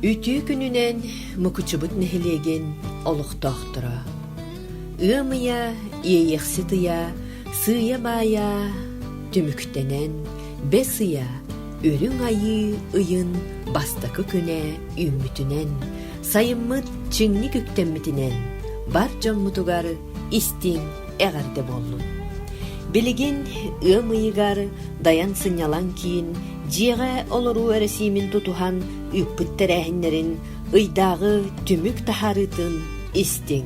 Үтүө күнүнэн Мукучубут нэһилиэгин олохтоохторо. Ыам ыйа иэйэхсит ыйа, сыыйа-баайа түмүктэнэн, бэс ыйа, үрүҥ айыы ыйын бастакы күнэ үүммүтүнэн, сайыммыт чиҥник үктэммитинэн бар дьоммутугар истиҥ эҕэрдэ буоллун. Билигин ыам ыйыгар дайан сынньалаҥ киин дьиэҕэ олоруу эрэсиимин тутуһан үүппүт тэрээһиннэрин, ыйдааҕы түмүк таһаарыытын истиҥ.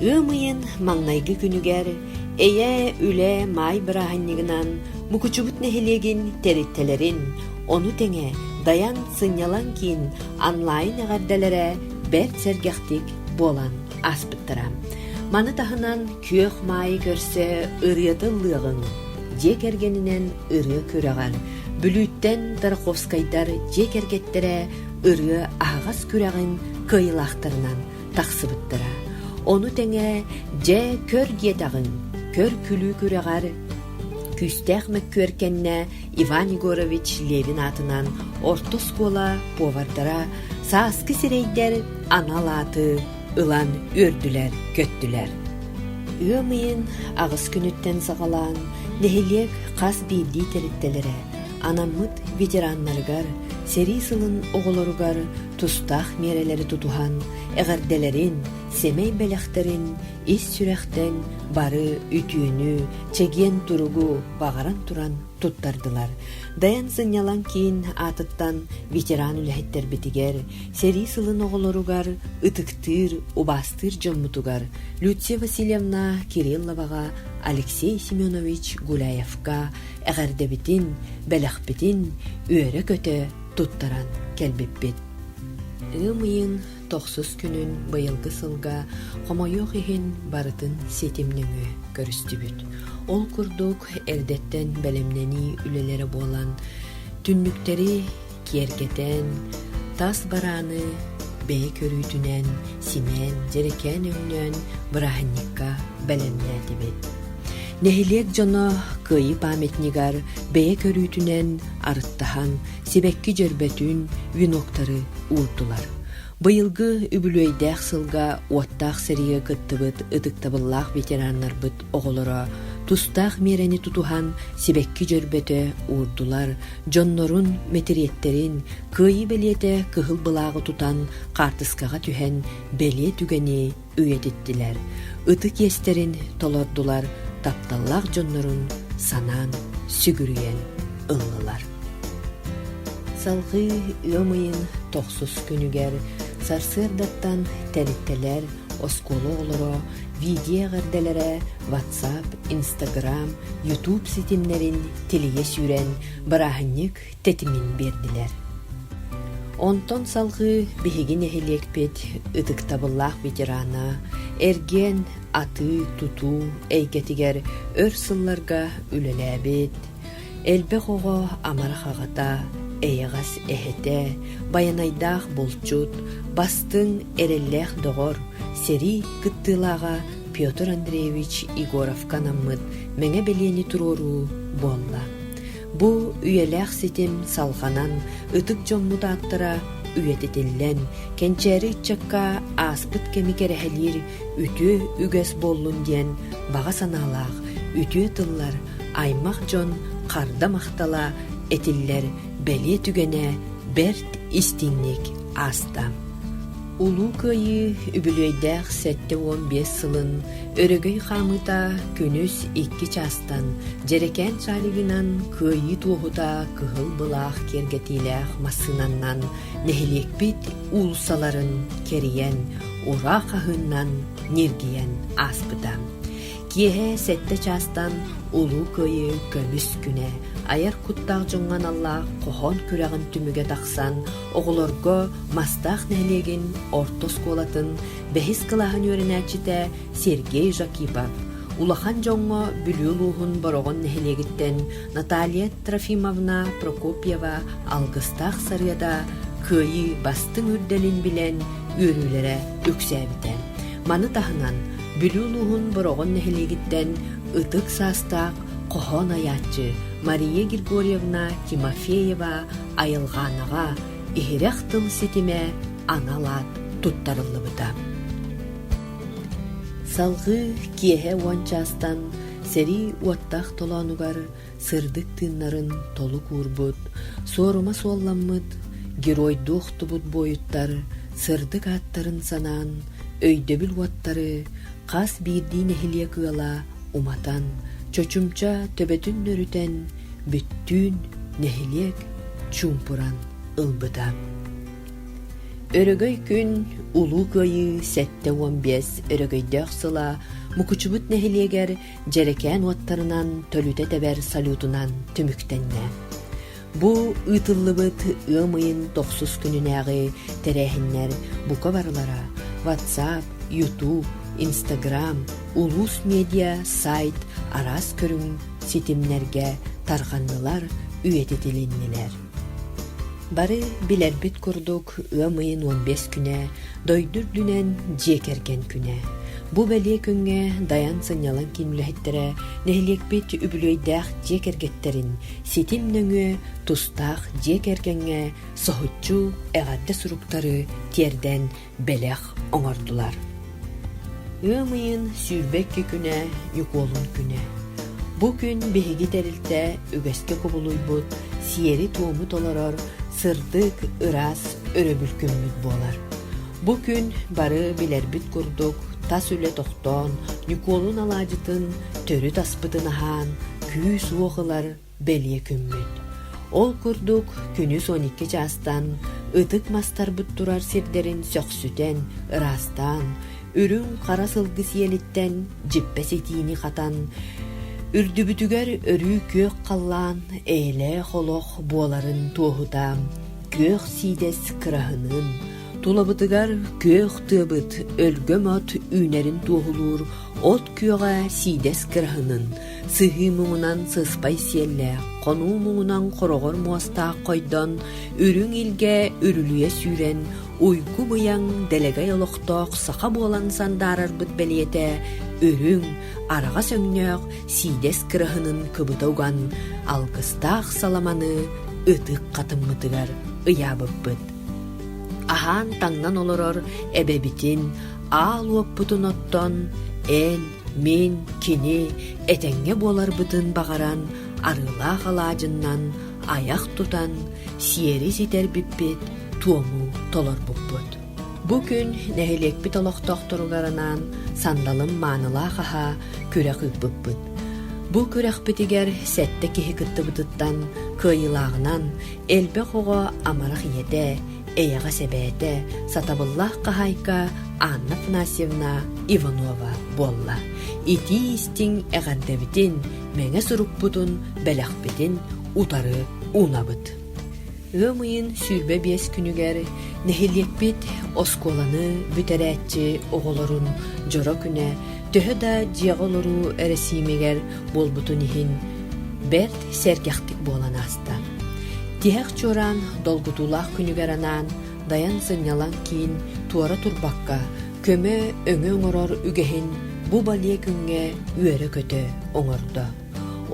Ыам ыйын маҥнайгы күнүгэр Эйээ үлэ маай бырааһынньыгынан Мукучубут нэһилиэгин тэрилтэлэрин, ону тэҥэ Дайан сынньалаҥ киин онлайн эҕэрдэлэрэ бэрт сэргэхтик буолан ааспыттара. Маны таһынан күөх маайы көрсө ырыата ыллыаҕыҥ, дьиэ кэргэнинэн ырыа күрэҕэр, Бүлүүттэн Тарковскайдар дьиэ кэргэттэрэ ырыа аһаҕас күрэҕин кыайылаахтарынан тахсыбыттара. Ону тэҥэ дьэ көр диэтэҕиҥ, көр күлүү күрэҕэр күүстээх мөккүөркэннэ Иван Егорович Левин аатынан орто оскуола повардара сааскы сирэйдэр анал ааты ылан үөрдүлэр-көттүлэр. Ыам ыйын аҕыс күнүттэн саҕалаан нэһилиэк хас биирдии тэрилтэлэрэ анаммыт ветераннарыгар, сэрии сылын оҕолоругар тустаах миэрэлэри тутуһан, эҕэрдэлэрин, сэмэй бэлэхтэрин, ис сүрэхтэн бары үтүөнү, чэгиэн туругу баҕаран туран туттардылар. Дайан сынньалаҥ киин аатыттан ветеран үлэһиттэрбитигэр, сэрии сылын оҕолоругар, ытыктыыр, убаастыыр дьоммутугар Люция Васильевна Кирилловаҕа, Алексей Семенович Гуляевка эҕэрдэбитин, бэлэхпитин үөрэ-көтө туттаран кэлбиппит. Ыам ыйын Тохсус күнүн быйылгы сылга хомойуох иһин барытын ситим нөҥүө көрүстүбүт. Ол курдук эрдэттэн бэлэмнэнии үлэлэрэ буолан, түннүктэри киэргэтэн, тас барааны бэйэ көрүүтүнэн симээн, дьэрэкээн өҥнөөн бырааһынньыкка бэлэмнээтибит. Нэһилиэк дьоно кыайыы памятнигар бэйэ көрүүтүнэн арыттаһан сибэкки дьөрбөтүн, веноктары уурдулар. Быйылгы үбүлүөйдээх сылга уоттаах сэригэ кыттыбыт ытыктабыллаах ветераннарбыт оҕолоро тустаах миэрэни тутуһан сибэкки дьөрбөтө уурдулар, дьоннорун, мэтириэттэрин, кыайыы бэлиэтэ кыһыл былааҕы тутан хаартыскаҕа түһэн бэлиэ түгэни үйэтиттилэр, ытык иэстэрин толордулар, тапталлаах дьоннорун санаан, сүгүрүйэн ыллылар. Салгыы үөм ыйын тохсус күнүгэр сарсыардаттан тэрилтэлэр, оскуола оҕолоро видео эҕэрдэлэрэ WhatsApp, Instagram, YouTube ситимнэрин тилийэ сүүрэн, бырааһынньык тэтимин биэрдилэр. Онтон салҕыы биһиги нэһилиэкпит ытыктабыллаах ветерана, эргиэн, атыы, тутуу эйгэтигэр өр сылларга үлэлээбит, элбэх оҕо амарах аҕата, эйэҕэс эһэтэ, байанайдаах булчут, бастыҥ эрэллээх доҕор, сэрии кыттыылааҕа Петр Андреевич Егоровка анаммыт мэҥэ бэлиэни туруоруу буолла. Бу үйэлээх ситим салҕанан, ытык дьоммут ааттара үйэтитиллэн, кэнчээри ыччакка ааспыт кэми кэрэһэлиир үтүө үгэс буоллун диэн баҕа санаалаах үтүө тыллар аймах дьон харда махтала этиллэр бэлиэ түгэнэ бэрт истиҥник ааста. Улуу Кыайыы үбүлүөйдээх сэттэ уон биэс сылын өрөгөй хаамыыта күнүс икки чаастан дьэрэкээн шаригынан Кыайыы туоһута кыһыл былаах киэргэтиилээх массыынаннан нэһилиэкпит уулуссаларын кэрийэн, ура хаһыыннан ньиргийэн ааспыта. Киэһэ сэттэ чаастан Улуу Кыайыы көмүс күнэ айар куттаах дьоҥҥо аналлаах хоһоон күрэҕин түмүгэ тахсан Оҕолорго Мастаах нэһилиэгин орто оскуолатын бэһис кылааһын үөрэнээччитэ Сергей Жакипов, улахан дьоҥҥо Бүлүү улууһун Бороҕон нэһилиэгиттэн Наталья Трофимовна Прокопьева алгыстаах сарыада кыайыы бастыҥ үрдэлин билэн үөрүүлэрэ үксээбитэ. Маны таһынан Бүлүү улууһун Бороҕон нэһилиэгиттэн ытык саастаах хоһоон айааччы Мария Григорьевна Тимофеева айылҕаанаҕа иһирэх тыл ситимэ анал аат туттарыллыбыта. Салгыы киэһэ уон чаастан сэрии уоттаах толоонугар сырдык тыыннарын толук уурбут, суорума суолламмыт, геройдуу охтубут буойуттар сырдык ааттарын санаан, өйдөбүл уоттары хас биирдии нэһилиэк ыала уматан, чочумча төбөтүн нөрүтэн, бүттүүн нэһилиэк чуумпуран ылбыта. Өрөгөй күн Улуу Кыайыы сэттэ уон биэс өрөгөйдөөх сыла Мукучубут нэһилиэгэр дьэрэкээн уоттарынан төлүтэ тэбэр салютунан түмүктэннэ. Бу ыытыллыбыт ыам ыйын тохсус күнүнээҕи тэрээһиннэр бука барылара WhatsApp, YouTube, Instagram, улуус медиа сайт араас көрүҥ ситимнэргэ тарҕаннылар, үйэтитилиннилэр. Бары билэрбит курдук, ыам ыйын уон биэс күнэ, дойду үрдүнэн дьиэ кэргэн күнэ. Бу бэлиэ күҥҥэ Дайан сынньалаҥ киин үлэһиттэрэ нэһилиэкпит үбүлүөйдээх дьиэ кэргэттэрин ситим нөҥүө тустаах дьиэ кэргэҥҥэ соһуччу эҕэрдэ суруктары тиэрдэн бэлэх оҥордулар ыам ыйын сүүрбэ икки күнэ ньукуолун күнэ бу күн биһиги тэрилтэ үгэскэ кубулуйбут сиэри-туому толорор сырдык ыраас өрөбүл күммүт буолар бу күн бары билэрбит курдук тас үлэ тохтоон ньукуолун алаадьытын төрүт аспытын аһаан күүс-уох ылар бэлиэ күммүт. Ол курдук күнүс он икки чаастан ытык мастарбыт турар сирдэрин сөхсүтэн, ыраастаан, үрүҥ хара сылгы сиэлиттэн дьиппэ ситиини хатан, үрдүбүтүгэр өрүү күөх халлаан эйэлээх олох буоларын туоһута күөх сиидэс кыраһыныын, тулабытыгар күөх тыабыт өлгөм от үүнэрин туоһулуур от күөҕэ сиидэс кыраһынын сыһыы муҥунан сыспай сиэллээх, хонуу муҥунан хороҕор муостаах хойдон, үрүҥ илгэ үрүлүйэ сүүрэн, уйгу быйаҥ дэлэгэй олохтоох саха буолан сандаарарбыт бэлиэтэ үрүҥ, араҕас өҥнөөх сиидэс кыраһынын кыбыта уган, алгыстаах саламаны ытык хатыммытыгар ыйаабыппыт. Аһаан таҥнан олорор эбэбитин аал уоппутун оттон, эл Мин кини этэҥҥэ буоларбытын баҕаран арыылаах алаадьыннан айах тутан сиэри ситэрбиппит туому толорбуппут. Бу күн нэһилиэкпит олохтоохторугар анаан сандалым маанылаах аһа күрэх ыыппыппыт. Бу күрэхпитигэр сэттэ киһи кыттыбытыттан кыайыылааҕынан элбэх оҕо амарах ийэтэ, эйэҕэс эбээтэ, сатабыллаах хаһаайка Анна Афанасьевна Иванова буолла. Итии-истиҥ эҕэрдэбитин, мэҥэ сурукпутун, бэлэхпитин утары унабыт. Ыам ыйын сүүрбэ биэс күнүгэр нэһилиэкпит оскуоланы бүтэрээччи оҕолорун дьоро күнэ төһө да дьиэҕэ олоруу эрэсиимигэр буолбутун иһин бэрт сэргэхтик буолан ааста. ыйытта. Тиһэх чуораан долгутуулаах күнүгэр анаан дайан сынньалаҥ киин туора турбакка көмө өҥө оҥорор үгэһин бу балиэ күҥҥэ үөрэ-көтө оҥордо.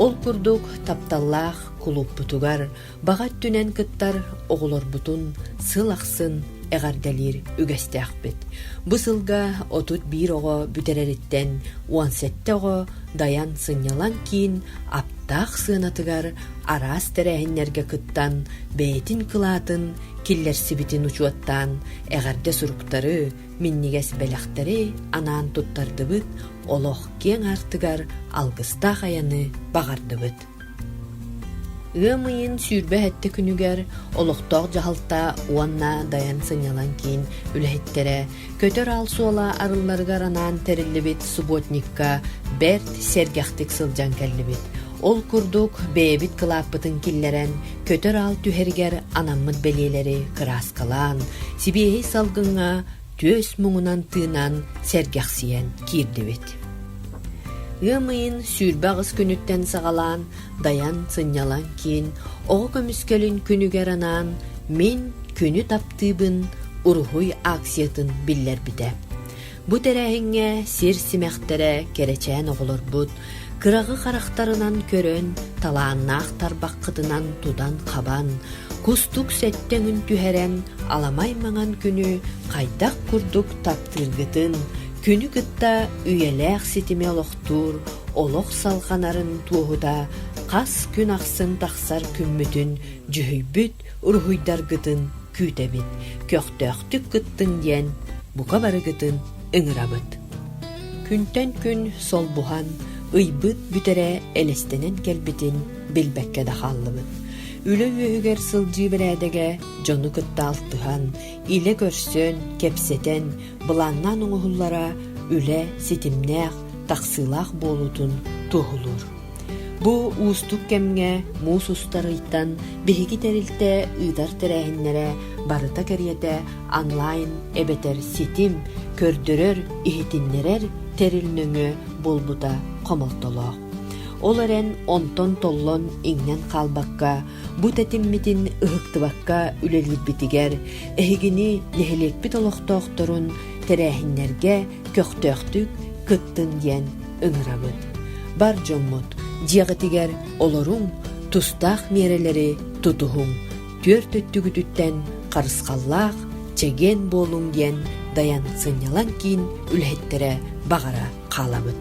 Ол курдук тапталлаах кулууппутугар баҕа өттүнэн кыттар оҕолорбутун сыл ахсын эҕэрдэлиир үгэстээхпит. Бу сылга отут биир оҕо бүтэрэриттэн он сэттэ оҕо дайан сынньалаҥ киин аптаах сыанатыгар араас тэрээһиннэргэ кыттан бэйэтин кылаатын киллэрсибитин учуоттаан эҕэрдэ суруктары минньигэс бэлэхтэри анаан туттардыбыт олох киэҥ аартыгар алгыстаах айаны баҕардыбыт Ыам ыйын сүүрбэ сэттэ күнүгэр олохтоох дьаһалта уонна Дайан сынньалаҥ киин үлэһиттэрэ көтөр аал суола арылларыгар анаан тэриллибит субботникка бэрт сэргэхтик сылдьан кэллибит. Ол курдук бэйэбит кылааппытын киллэрэн көтөр аал түһэригэр анаммыт бэлиэлэри кырааскалаан, сибиэһэй салгыҥҥа түөс муҥунан тыынаан сэргэхсийэн киирдибит ыам ыйын сүүрбэ аҕыс күнүттэн саҕалаан дайан сынньалаҥ киин оҕо көмүскэлин күнүгэр анаан мин күнү таптыыбын уруһуй акциятын биллэрбитэ бу тэрээһиҥҥэ сир симэхтэрэ кэрэчээн оҕолорбут кыраҕы харахтарынан көрөн, талааннаах тарбаххытынан тутан-хабан, кустук сэттэ өҥүн түһэрэн, аламай маҥан күнү хайдах курдук таптыыргытын, күнү кытта үйэлээх ситими олохтуур олох салҕанарын туоһута хас күн ахсын тахсар күммүтүн дьүһүйбүт уруһуйдаргытын күүтэбит, көхтөөхтүк кыттыҥ диэн бука барыгытын ыҥырабыт. Күнтэн күн солбуһан, ыйбыт бүтэрэ элэстэнэн кэлбитин билбэккэ да хааллыбыт. Үлэ үөһүгэр сылдьыы бэрээдэгэ дьону кытта алтыһан, илэ көрсөн, кэпсэтэн, былааннаан оҥоһуллара үлэ ситимнээх, тахсыылаах буолуутун туоһулуур. Бу уустук кэмҥэ муус устар ыйтан биһиги тэрилтэ ыытар тэрээһиннэрэ барыта кэриэтэ онлайн эбэтэр ситим көрдөрөр, иһитиннэрэр тэрил нөҥүө буолбута хомолтолоох. Ол эрэн онтон толлон иҥнэн хаалбакка, бу тэтиммитин ыһыктыбакка үлэлиирбитигэр эһигини нэһилиэкпит олохтоохторун тэрээһиннэргэ көхтөөхтүк кыттын диэн ыҥырабын. Бар дьоммут дьиэҕитигэр олоруҥ, тустаах миэрэлэри тутуһуҥ, түөрт өттүгүтүттэн харысхаллаах, чэгиэн буолуҥ диэн Дайан сынньалаҥ киин үлэһиттэрэ баҕара хаалабыт.